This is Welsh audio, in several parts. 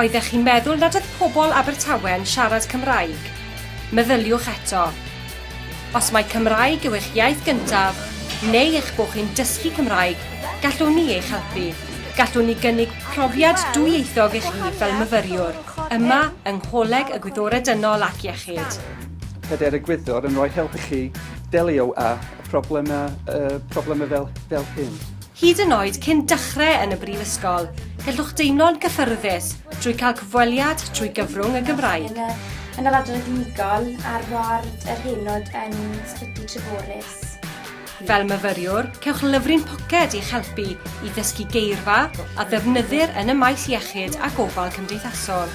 Oeddech chi'n meddwl nad oedd pobl Abertawe'n siarad Cymraeg? Meddyliwch eto. Os mai Cymraeg yw eich iaith gyntaf, neu eich bod chi'n dysgu Cymraeg, gallwn ni eich helpu. Gallwn ni gynnig profiad dwyieithog i chi fel myfyriwr yma yng Ngholeg y Gwyddorau Dynol ac Iechyd. Pedair egwyddor yn rhoi help i chi delio â problemau fel hyn. Hyd yn oed cyn dechrau yn y brifysgol, gallwch deimlo'n gyffyrddus drwy cael cyfweliad trwy gyfrwng y Gymraeg. Yn yr adran unigol ar ward yr Heinod yn Ysbyty Treforys. Fel myfyriwr, cewch lyfryn poced i'ch helpu i ddysgu geirfa a ddefnyddir yn y maes iechyd a gofal cymdeithasol.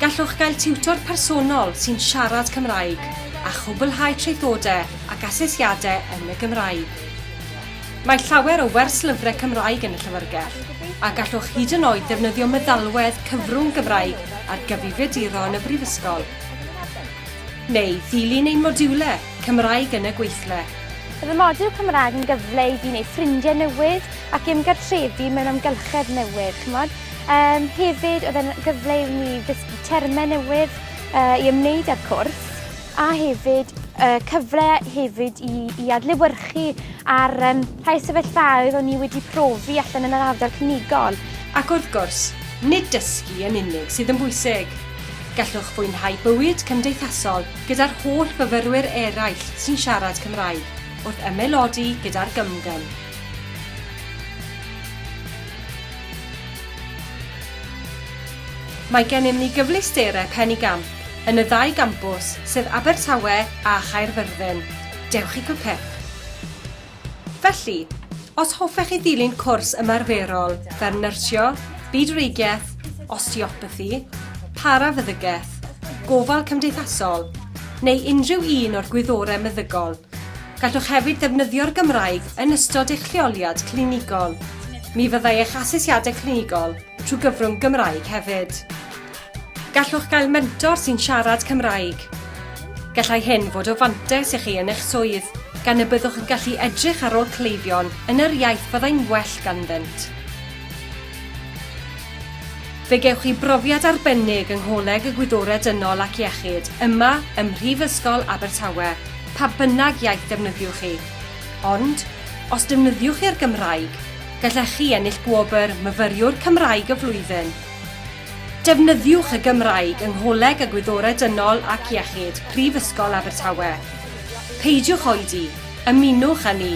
Gallwch gael tiwtor personol sy'n siarad Cymraeg a chwblhau traethodau ac asesiadau yn y Gymraeg. Mae llawer o werslyfrau Cymraeg yn y Llyfrgell, a gallwch hyd yn oed ddefnyddio meddalwedd cyfrwng Gymraeg ar gyfrifiaduro yn y Brifysgol. Neu ddilyn ein modiwlau Cymraeg yn y gweithle. Bydd y modiwl Cymraeg yn gyfle i fi wneud ffrindiau newydd ac ymgartrefu mewn amgylchedd newydd, ch'mod. Yym, hefyd, oedd e'n gyfle i mi ddysgu termau newydd yy i ymwneud â'r cwrs. a hefyd y cyfle hefyd i, i adlewyrchu ar um, rhai sefyllfaoedd o'n i wedi profi allan yn yr ardal cynigol. Ac wrth gwrs, nid dysgu yn unig sydd yn bwysig. Gallwch fwynhau bywyd cymdeithasol gyda'r holl fyfyrwyr eraill sy'n siarad Cymraeg wrth ymaelodi gyda'r gymgym. Mae gennym ni gyfleusterau penigamp yn y ddau gampws, sef Abertawe a Chaerfyrddin. Dewch i Cupep! Felly, os hoffech chi ddilyn cwrs ymarferol fer nyrsio, byd-wreigiaeth, osteopathi, parafeddygaeth, gofal cymdeithasol, neu unrhyw un o'r gwyddorau meddygol, gallwch hefyd ddefnyddio'r Gymraeg yn ystod eich lleoliad clinigol. Mi fyddai eich asesiadau clinigol trwy gyfrwng Gymraeg hefyd. Gallwch gael mentor sy'n siarad Cymraeg. Gallai hyn fod o fantais i chi yn eich swydd, gan y byddwch yn gallu edrych ar ôl cleifion yn yr iaith fyddai'n well ganddynt. Fe gewch chi brofiad arbennig yng Ngholeg y Gwyddorau Dynol ac Iechyd yma ym Mhrifysgol Abertawe, pa bynnag iaith defnyddiwch chi. Ond, os defnyddiwch chi'r Gymraeg, gallech chi ennill gwobr Myfyriwr Cymraeg y Flwyddyn. Defnyddiwch y Gymraeg yng Ngholeg y Gwyddorau Dynol ac Iechyd, Prifysgol Abertawe. Peidiwch oedi, ymunwch â ni!